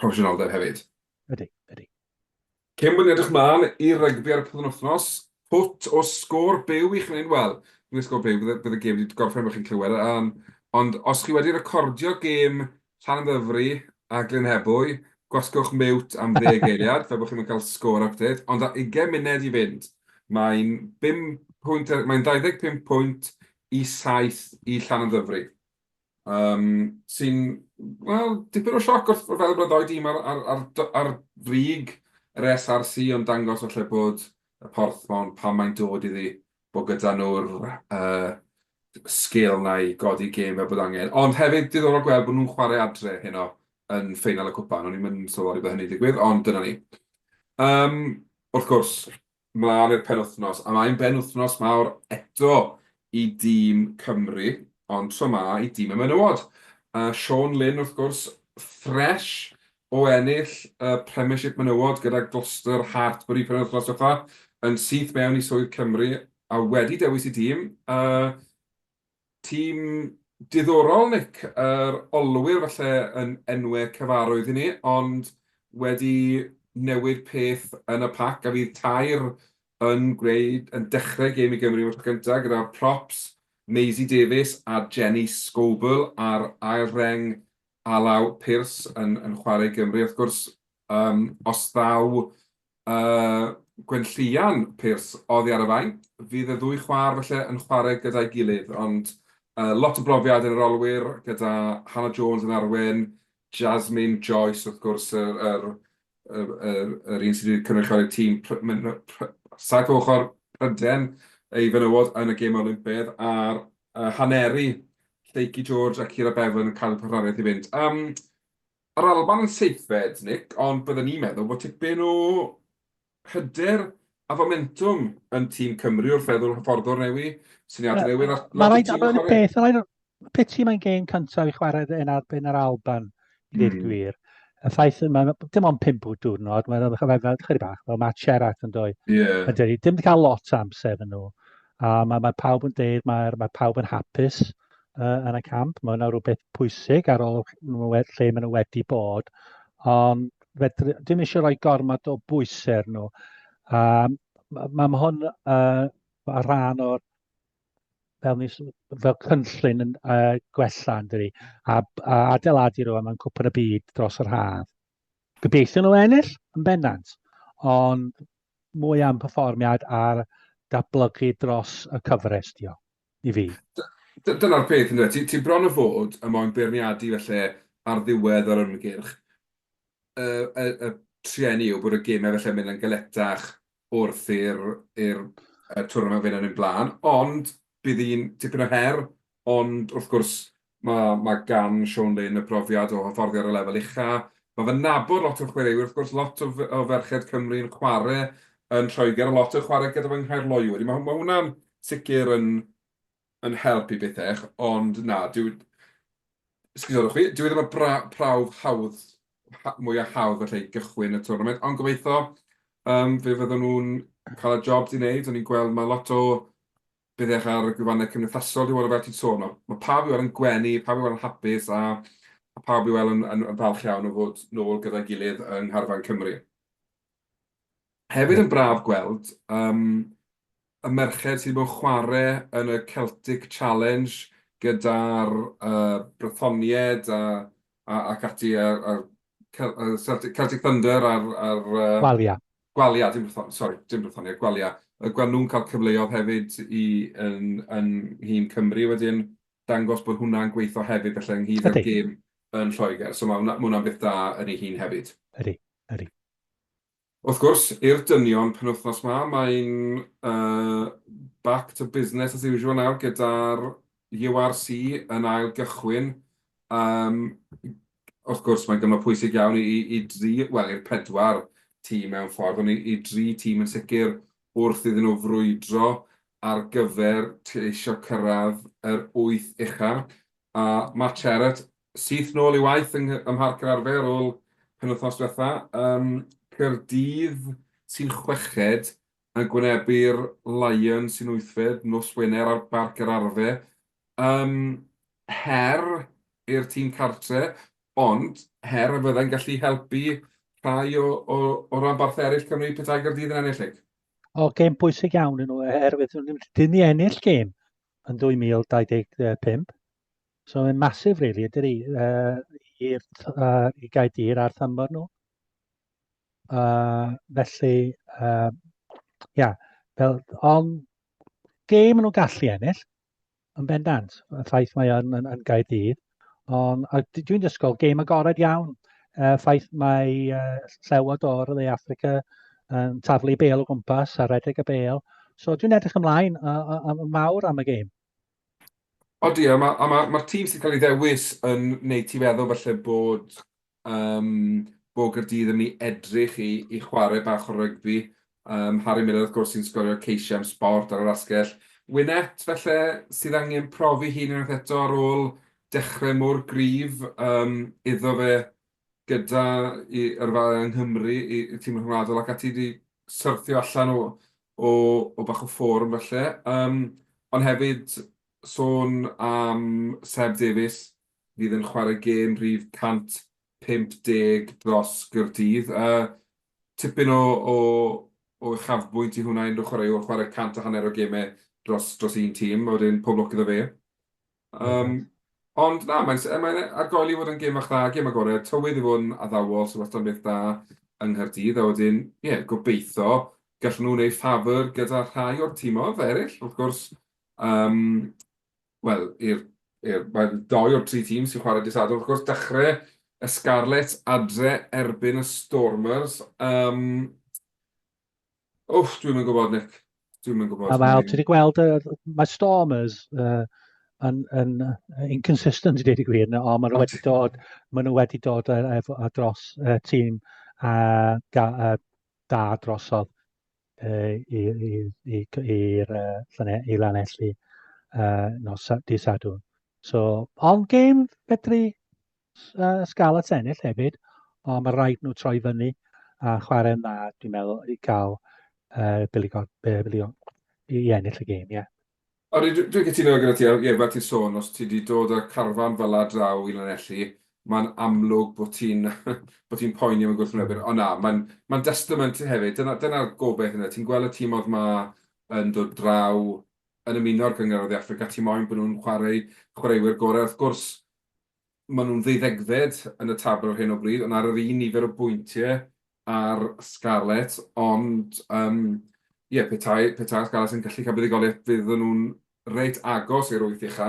proffesiynoldeb hefyd. Ydy, ydy. Cyn bod ni'n edrych mlaen i rygbi ar y pryd yn wythnos, pwt o sgôr byw i chi'n ei wel, dwi'n sgôr byw, bydd y gêm wedi gorffen fe chi'n clywed, um, ond os chi wedi recordio gêm Llan Ddyfri a Glyn Hebwy, gwasgwch mewt am ddeg eiliad, fe bod chi'n cael sgôr update, ond a 20 munud i fynd, mae'n 25 pwynt i 7 i Llan Ddyfri. Yym, sy'n, wel, dipyn o sioc wrth feddwl bod y ddou dîm ar, ar, ar, ar frig yr SRC yn dangos falle bod y Porthmon pan mae'n dod iddi bod gyda nhw'r uh, sgil na i godi gêm fel bod angen. Ond hefyd diddorol gweld bod nhw'n chwarae adre heno yn ffeinal y cwpan. O'n i'n mynd sylweddoli bod hynny'n digwydd, ond dyna ni. Um, wrth gwrs, mlaen i'r penwythnos, a mae'n benwythnos mawr eto i dîm Cymru, ond tro 'ma i dîm y menywod. A Siôn Lyn, wrth gwrs, ffresh o ennill y Premiership Menywod gyda Gloucester Hartpury penwythnos diwetha, yn syth mewn i swydd Cymru a wedi dewis ei dîm. Tîm diddorol Nick, yr olwyr falle yn enwe cyfarwydd i ni, ond wedi newid peth yn y pac a fydd tair yn gwneud, yn dechrau gêm i Gymru am y tro cyntaf gyda props Maisie Davies a Jenny Scoble ar ail reng alaw Pearce yn chwarae i Gymru wrth gwrs, os ddaw Y Gwenllian, Pearce, oddi ar y fai. Fydd y ddwy chwaer felly yn chwarae gyda'i gilydd, ond uh, lot o brofiad yn yr olwyr gyda Hannah Jones yn arwen, Jasmine Joyce wrth gwrs yr, yr, yr, yr, yr un sydd wedi cynrychioli'r tîm saith ochr Pryden ei fenywod yn y gêm Olympedd a'r uh, Haneri, Lleucu George a Cira Bevan yn cadw partneriaeth i fynd. Um, Yr Alban yn seithfed, Nick, ond bydden i'n meddwl bod tipyn o hyder a fomentwm yn tîm Cymru wrth feddwl hyfforddwr newydd, syniadau newydd a lot o tîm yn chwarae. Beth mae'n piti mae'n gêm cyntaf i chwarae yn erbyn yr Alban, i ddweud mm. gwir. Y ffaith yma, dim ond pimp o diwrnod, mae'n rhaid i fel chyri bach, fel Matt Sherratt yn doi. Yeah. Dim wedi cael lot o amser yn nhw. A mae, mae pawb yn deud, mae, mae pawb yn hapus uh, yn y camp. Mae hwnna rhywbeth pwysig ar ôl lle maen nhw wedi bod. Ond fedr, dim eisiau rhoi gormod o bwysau nhw. Um, mae ma hwn uh, a rhan o'r fel, nis, fel cynllun yn uh, gwella yn dydi, a, a adeiladu rhywun mewn cwpan y byd dros yr haf. Gobeithio nhw ennill yn bennant, ond mwy am perfformiad ar datblygu dros y cyfres, diolch. i fi. Dyna'r peth yndyw e, ti, ti bron o fod yn moyn beirniadu felly ar ddiwedd yr ymgyrch y, y, y trueni yw bod y gemau felly yn mynd yn galetach wrth i'r, i'r twrnament fynd yn un blaen, ond bydd un tipyn o her, ond wrth gwrs Mae, mae gan Siôn Lyn y profiad o hyfforddi ar y lefel ucha'. Mae fe'n nabod lot o'r chwaraewyr, wrth gwrs, lot o o ferched Cymru yn chware' yn Lloegr, a lot yn chware' gyda fy nghaerloyw. Wedyn ma' ma' hwnna'n sicr yn yn help i bethech, ond na, dyw, sgusodwch fi, dyw e ddim yn bra- prawf hawdd, ha- mwya' hawdd falle i gychwyn y twrnament, ond gobeitho yym fe fyddan nhw'n ca'l y job 'di neud, o'n i'n gweld ma' lot o Bydd eich ar y gwefannau cymdeithasol dwi weld fel ti'n sôn. Mae pawb i weld yn gwenu, pawb i weld yn hapus a a pawb i weld yn, yn, yn falch iawn o fod nôl gyda'i gilydd yng Ngharfan Cymru. Hefyd yn braf gweld um, y merched sydd wedi bod yn chwarae yn y Celtic Challenge gyda'r uh, Brythonied a, a, ac ati a'r, a'r Celtic, Celtic Thunder a'r... a'r uh, Walia. Gwalia, dim Brythonia, sori, dim Brythonia, Gwalia. Y gwan nhw'n cael cyfleodd hefyd i yn, yn hun Cymru wedyn, dangos bod hwnna'n gweithio hefyd felly ynghyd â'r gêm yn Lloegr. So mae hwnna'n hwnna beth da yn ei hun hefyd. Ydy, ydy. Wrth gwrs, i'r dynion penwythnos ma, mae'n uh, back to business as usual nawr gyda'r URC yn ail gychwyn. Um, Wrth gwrs, mae'n gyfnod pwysig iawn i, i, i dri, wel, i'r pedwar tîm mewn ffordd, ond i, i dri tîm yn sicr wrth iddyn nhw frwydro ar gyfer ceisio cyrraedd yr wyth ucha. A Matt Cherrett syth nôl i waith yng, ym Mharc yr Arfe ar ôl penwythnos diwetha. Um, Caerdydd sy'n chweched yn gwynebu'r Lions sy'n wythfed nos Wener ar Barc yr Arfe. Yym, her i'r tîm cartre, ond her y byddai'n gallu helpu rhai o, o, o ranbarthau eraill Cymru petai Gaerdydd yn ennill lig? O, gêm bwysig iawn yn nhw, oherwydd dyn ni ennill gêm yn 2025. So mae'n masif, really, ydy ni, uh, i'r uh, i Gaerdydd a'r thymor nhw. Uh, felly, uh, yeah, fel, ond gêm nhw'n gallu ennill, yn bendant, y ffaith mae yn, yn, yn Gaerdydd. Ond dwi'n dysgol gêm agored iawn, y ffaith mae uh, llewod o'r Le Africa yn taflu bel o gwmpas a redeg y bel. So dwi'n edrych ymlaen yn mawr am y gêm. Odi, a mae'r ma, ma, ma tîm sy'n cael ei ddewis yn wneud ti feddwl felly bod Ym Mhob Caerdydd yn mynd i edrych i i chwarae bach o rygbi. Yym Harry Millar wrth gwrs sy'n sgorio ceisiau am Sport ar yr asgell. Wynett falle sydd angen profi hun unwaith eto ar ôl dechrau mor gryf yym iddo fe gyda i yrfa yng Nghymru i i tîm rhyngwladol ac ati 'di syrthio allan o o o bach o ffôrm falle. Yym ond hefyd sôn am Seb Davies fydd yn chwarae gêm rhif 150 dros Gaerdydd. Tipyn o uchafbwynt i hwnna, unrhyw chwaraewr chwarae cant a hanner o gemau dros un tîm, a wedyn pob lwc iddo fe. Ond na, mae'n ar goll i fod yn gêm fach dda, gêm agored, tywydd i fod yn addawol sy'n wastad yn beth da yng Nghaerdydd, a wedyn ie, gobeithio gallwn nhw wneud ffafr gyda rhai o'r tîmoedd eraill, wrth gwrs. wel, i'r, i'r, mae doi o'r tri tîm sy'n chwarae disadwrn, wrth gwrs, dechrau y Scarlets adre erbyn y Stormers. Um, Wff, dwi'n mynd gwybod, Nick. Dwi'n mynd gwybod. A fel, ti wedi gweld, uh, mae Stormers uh, yn, yn inconsistent i ddeud y gwir, o, maen nhw wedi dod, maen nhw wedi dod ar, ar dros uh, tîm a, a, a da drosodd. i'r i Lanelli uh, nos di Sadwrn. So, ond gêm fedru uh, sgal y tennill hefyd, ond mae rhaid nhw troi fyny a chwarae'n dda, dwi'n meddwl, i gael uh, biligon, biligon, i ennill y gêm, ie. Yeah. Odi, dwi'n cytuno gyda ti, a ie, fel ti'n sôn, os ti 'di dod â carfan fel 'na draw i Lanelli, mae'n amlwg bod ti'n bod ti'n poeni am y gwrthwynebwyr, ond na, mae'n mae'n destament hefyd, dyna dyna'r gobaith ynde, ti'n gweld y tîmodd 'ma yn dod draw, yn ymuno â'r Gynghrair o Dde Affrica, ti moyn bod nhw'n chwarae chwaraewyr gorau, wrth gwrs, Maen nhw'n ddeuddegfed yn y tabl ar hyn o bryd, ond ar yr un nifer o bwyntiau â'r Scarlets, ond yym ie, petai, petai'r Scarlets yn gallu cael buddugoliaeth fydden nhw'n reit agos i'r wyth ucha,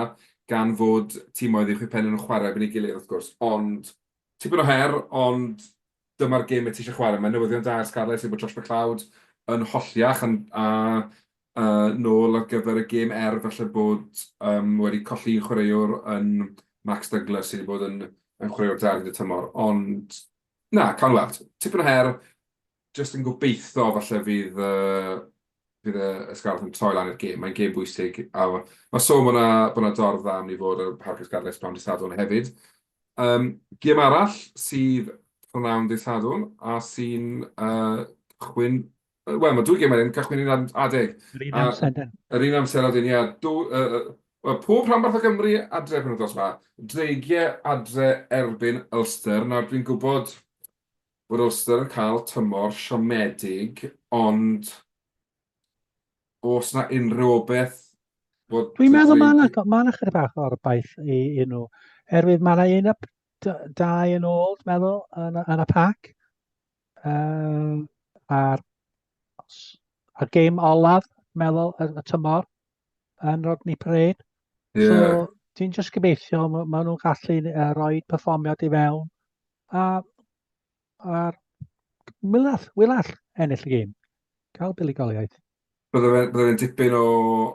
gan fod timoedd uwch eu pen nhw'n chwarae erbyn ei gilydd wrth gwrs, ond tipyn o her, ond dyma'r gêm y ti eisiau chwarae. Mae newyddion da i'r Scarlets yw bod Josh McLeod yn holli a, a uh, nôl ar gyfer y gêm er felly bod um, wedi colli chwaraewr yn Max Douglas sydd wedi bod yn, yn chwaraewr da yn y tymor. Ond na, cael weld. Tipyn o her, jyst yn gobeithio falle fydd, uh, fydd y, y Scarlets yn troi lan i'r gêm. Mae'n gêm bwysig. A mae sôn bod yna dorf dda am ni fod y Hargis Scarlets pan dysadwn hefyd. Gêm arall sydd p'nawn dydd Sadwrn a sy'n cychwyn... Wel, mae dwy gêm wedyn yn cychwyn yn adeg. Yr un amser wedyn. Yr un amser wedyn, ie. Wel, pob rhanbarth o Gymru adre penwythnos yma. Dreigiau adre erbyn Ulster. Nawr, dwi'n gwybod bod Ulster yn cael tymor siomedig, ond os na unrhyw o beth... Dwi'n meddwl mae yna ma chyda bach o'r baith i, i nhw. Herwydd mae yna un up dau yn ôl, dwi'n meddwl, yn, yn y pac. Um, a'r, a'r game olaf, dwi'n meddwl, y, y tymor yn Rodney Parade. Yeah. So, ti'n just gobeithio, maen ma nhw'n gallu uh, rhoi performiad i fewn. A A'r Milall, Wilall, ennill y gêm. Cael buddugoliaeth. Bydde fe'n bydde fe dipyn o...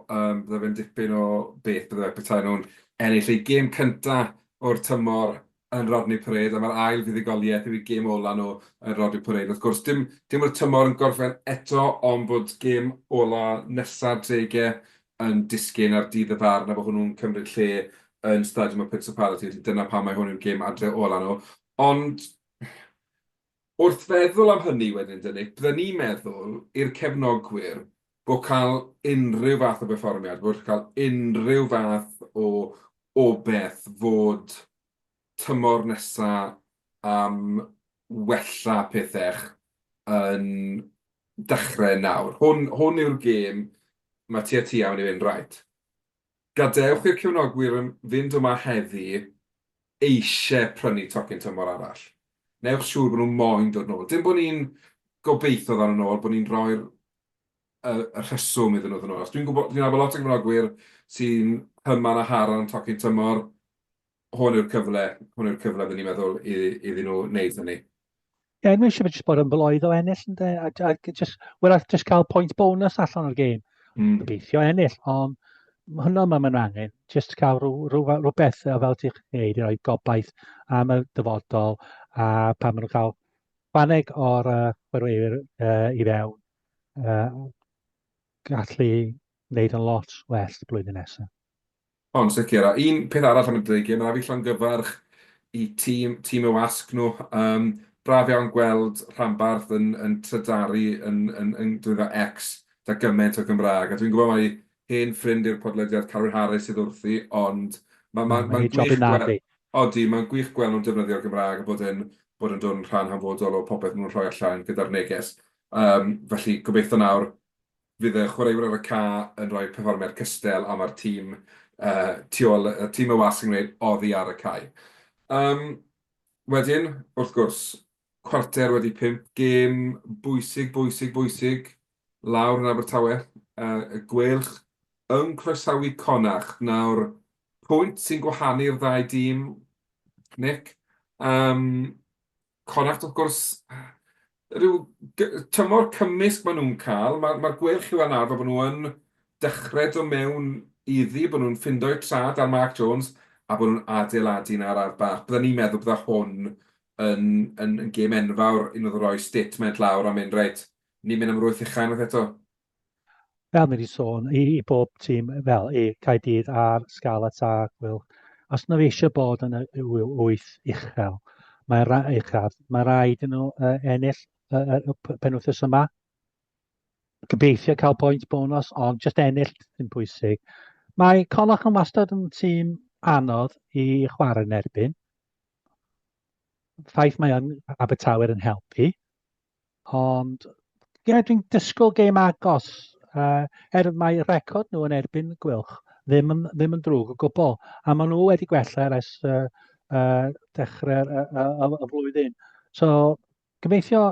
Um, bydde fe'n dipyn o beth bydde fe petai nhw'n ennill ei gêm cyntaf o'r tymor yn Rodney Parade, a mae'r ail fuddugoliaeth yw i gêm ola nhw yn Rodney Parade. Wrth gwrs, dim, dim o'r tymor yn gorffen eto, ond bod gêm ola nesaf drege yn disgyn ar dydd y farn, a bod hwnnw'n cymryd lle yn Stadiwm y Principality, felly dyna pam mae hwn yn gêm adre ola nhw. Ond wrth feddwl am hynny wedyn de Nick, bydden ni'n meddwl i'r cefnogwyr bod cael unrhyw fath o berfformiad, bod cael unrhyw fath o obeth fod tymor nesa am wella pethech yn dachre nawr. Hwn, hwn yw'r gêm mae tua tua mynd i fynd right. Gadewch i'r cefnogwyr fynd yma heddi eisiau prynu tocyn tymor arall. Newch siŵr bod nhw moyn dod nôl. Dim bod ni'n gobeithio ddaw nhw nôl, bod ni'n rhoi'r y rheswm iddyn nhw ddod nôl. Achos dwi'n gwybod, dwi'n nabod lot o gefnogwyr sy'n hyman a haran tocyn tymor. hwn yw'r cyfle, hwn yw'r cyfle rydyn ni'n meddwl i, iddyn nhw wneud hynny. Ie, yeah, mae eisiau jyst bod yn bloedd o ennill, ynddo, a, a just, well, just cael pwynt bonus allan o'r gêm. Mm. Gobeithio ennill, ond hwnna mae mae'n angen. Just cael rhyw, rhyw, rhyw, rhyw bethau fel ti'n gwneud i roi gobaith am y dyfodol a pan maen nhw'n cael faneg o'r uh, chwerweir uh, i fewn. Uh, gallu wneud yn lot well blwyddyn nesaf. O, yn sicr. A un peth arall am y dreigiau, mae 'na fi llongyfarch i tîm, tîm y wasg nhw. Um, braf iawn gweld rhanbarth yn, yn trydaru yn, yn, yn drwyddo X da gymaint o Gymraeg. A dwi'n gwybod mai hen ffrind i'r podlediad Carwyn Harris sydd wrthi, ond mae'n ma, ma, ma gwych gweld... Odi, mae'n gwych gweld nhw'n defnyddio'r Gymraeg a bod yn, bod yn dod yn rhan hanfodol o popeth maen nhw'n rhoi allan gyda'r neges. Um, felly, gobeithio nawr Fydd y chwaraewyr ar y ca yn rhoi perfformiad cystel a ma'r tîm tu ôl, tîm y wasg yn gwneud oddi ar y cae. Yym, wedyn, wrth gwrs, cwarter wedi pump, gêm bwysig, bwysig, bwysig lawr yn Abertawe. Y Gweilch yn croesawu Connacht. Nawr, pwynt sy'n gwahanu'r ddau dîm, Nick. Yym, Correct wrth gwrs. Rhyw tymor cymysg maen nhw'n cael. Mae'r ma gwell yw yn arfer bod nhw yn dechrau do mewn iddi, bod nhw'n ffindo'u trad ar Mark Jones a bod nhw'n adeiladu yna ar Arth Bach. Bydden ni'n meddwl bydde hwn yn, yn, yn gêm enfawr i nhw ddroi statement lawr a mynd reit, ni'n mynd am rwyth uchel unwaith eto. fel ni wedi sôn, i, i bob tîm, fel i Caedydd a'r Scarlets a Gwyl, os nhw eisiau bod yn y wyth uchel, mae ra, uchaf, mae rhaid yn nhw uh, ennill uh, y penwthus yma. Gobeithio cael pwynt bonus, ond just ennill yn bwysig. Mae Colach yn wastad yn tîm anodd i chwarae yn erbyn. Ffaith mae yn Abertawe yn helpu. Ond ie yeah, dwi'n disgwyl game agos uh, er mae record nhw yn erbyn Gwylch ddim yn, ddim yn drwg o gwbl a maen nhw wedi gwella ers uh, uh, dechrau'r uh, uh, uh, flwyddyn. So gobeithio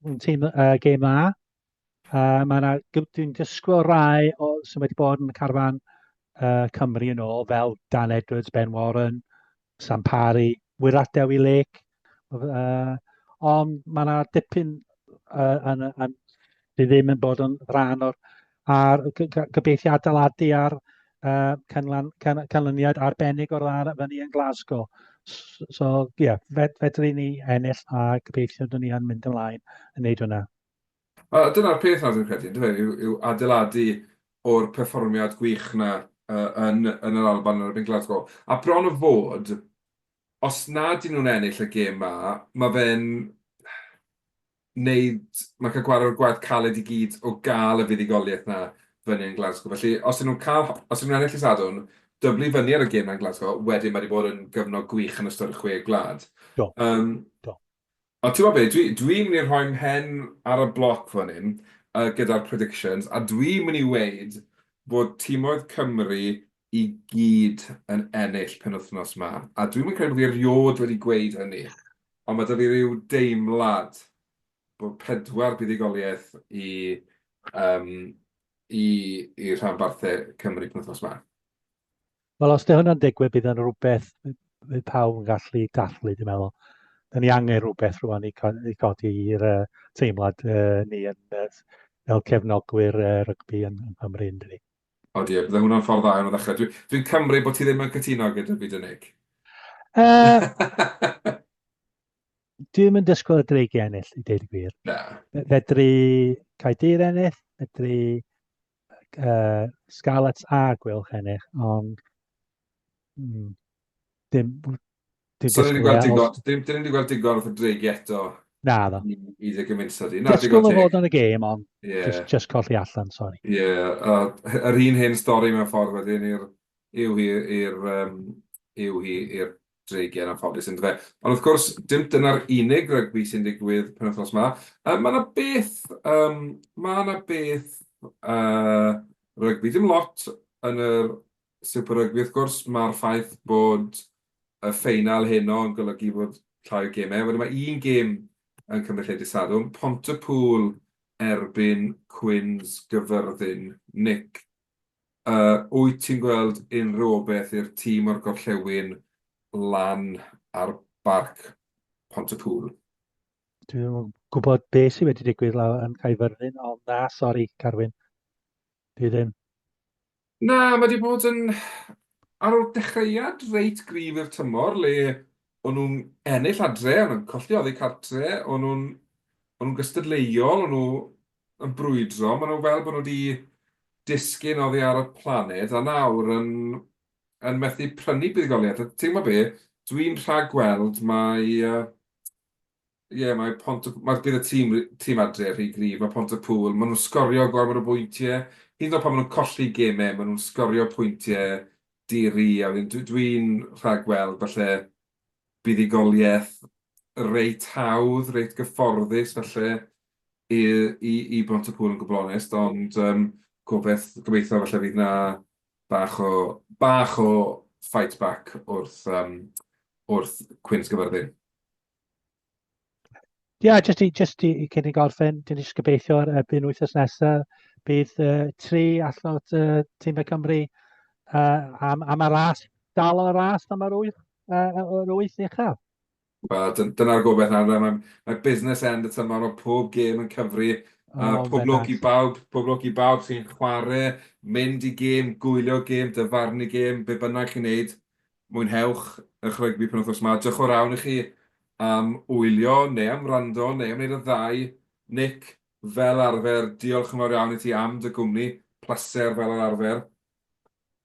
yn tîm uh, game dda Uh, mae yna, dwi'n dysgwyl rai o, sy'n wedi bod yn y carfan uh, Cymru yn ôl, fel Dan Edwards, Ben Warren, Sam Parry, Wirat Dewi Lake. Uh, ond mae yna dipyn uh, yn, yn, sydd ddim yn bod yn rhan o'r ar gybeithiau adeiladu ar uh, canlan, can, canlyniad arbennig o'r dda fyny yn Glasgow. So, ie, yeah, fed, fedri ni ennill a gybeithio dyn ni yn mynd ymlaen yn neud hwnna. A dyna'r peth nawr dwi'n credu, yndyfe, yw, yw adeiladu o'r perfformiad gwych na uh, yn, yn yr Alban yn erbyn Glasgow. A bron o fod, os na dyn nhw'n ennill y gêm ma, mae fe'n wneud, mae cael gwared o'r gwaith caled i gyd o gael y fuddugoliaeth na fyny yn Glasgow. Felly, os ydyn nhw'n cael, os ydyn nhw'n ennill y sadwn, dyblu fyny ar y gêm na'n Glasgow, wedyn mae wedi bod yn gyfnod gwych yn ystod y chwe gwlad. Do. Um, Do. Ond ti'n gwybod be, dwi, dwi'n mynd i rhoi mhen ar y bloc fan hyn uh, gyda'r predictions, a dwi'n mynd i weid bod timoedd Cymru i gyd yn ennill penwythnos ma. A dwi'n mynd credu bod fi erioed wedi gweud hynny, ond mae da fi rhyw deimlad bod pedwar buddugoliaeth i, um, i, i rhanbarthau Cymru penwythnos ma. Wel, os 'di hwnna'n digwydd, bydd yn rhywbeth bydd pawb yn gallu dathlu, dwi'n meddwl. Da ni angen rhywbeth rwan i, co i codi i'r uh, teimlad uh, ni yn, uh, fel cefnogwyr uh, rygbi yn, yn Cymru, yn dydi? O diolch, bydde hwnna'n ffordd dda iawn o ddechrau. Dwi'n dwi cymryd bod ti ddim yn cytuno gyda fi, Dynig. Uh, dwi'n mynd dysgwyl y dreig i ennill, i ddeud y gwir. Na. Fedri Caedir ennill, fedri uh, Scarlets a Gwylch ennill, ond mm, dim... dim so, ni'n gweld digon, dim, dim wedi gweld digon o ffydreigi eto. Na, ddo. I, i dde gymunso di. Disgwyl o fod yn y gêm, ond yeah. just, just colli allan, sori. Ie, yeah, uh, yr un hen stori mewn ffordd wedyn i'r yw hi i'r um, yw hi i'r dreigiau'n anffodus ynddo fe. Ond wrth gwrs, dim dyna'r unig rygbi sy'n digwydd penwythnos ma. Uh, mae yna beth, um, mae yna beth uh, rygbi, dim lot yn y Super Rygbi wrth gwrs, mae'r ffaith bod y ffeinal heno yn golygu bod llai o gemau. Wedyn mae un gêm yn cymryd lle disadwn, Pontypool erbyn Cwins Gyfyrddin. Nick, Wyt ti'n gweld unrhywbeth i'r tîm o'r gorllewin lan ar Barc Pont-y-pŵl? Dwi ddim yn gwybod beth sydd wedi digwydd lawr yn Caerfyrddin, ond na, sori, Carwyn. Dwi ddim. Na, mae wedi bod yn... Ar ôl dechreuad reit gryf i'r tymor, le o'n nhw'n ennill adre, o'n nhw'n colli oddi cartre, o'n nhw'n gystadleuol, o'n nhw yn brwydro, maen nhw fel bod nhw wedi disgyn oddi ar y planed a nawr yn, yn methu prynu buddugoliaeth. A ti'n gwybod be, dwi'n rhag gweld mae, ie, uh, yeah, mae pont y, mae bydd y tîm, tîm adre rhy grif, mae pont y pŵl, maen nhw'n sgorio gormod o bwyntiau, hyd yn oed pan maen nhw'n colli gemau, maen nhw'n sgorio pwyntiau diri, a dwi'n dwi, dwi rhag gweld falle buddugoliaeth reit hawdd, reit gyfforddus, felly i Bontecŵl yn gwbl onest, ond yym gobeth- gobeitho falle fydd 'na bach o bach o fight back wrth yym wrth Cwins Gyfyrddin. Ia jyst i jyst i cyn i gorffen dyn ni jyst gobeithio ar erbyn wythnos nesa bydd yy tri allan o t- yy time Cymru yy am am y ras dal yn y ras am yr wyth yy yy yr wyth ucha. Wel, dyna'r gobaith nawr de. Mae business end y tymor, mae pob gêm yn cyfri. A pob lwc i bawb, pob lwc i bawb sy'n chwarae, mynd i gêm, gwylio gêm, dyfarnu gêm, be bynnag chi'n wneud, mwynhewch eich rygbi penwythnos 'ma. Diolch o rawn i chi am wylio, neu am wrando, neu am wneud y ddau. Nick, fel arfer, diolch yn fawr iawn i ti am dy gwmni. Pleser, fel yr arfer.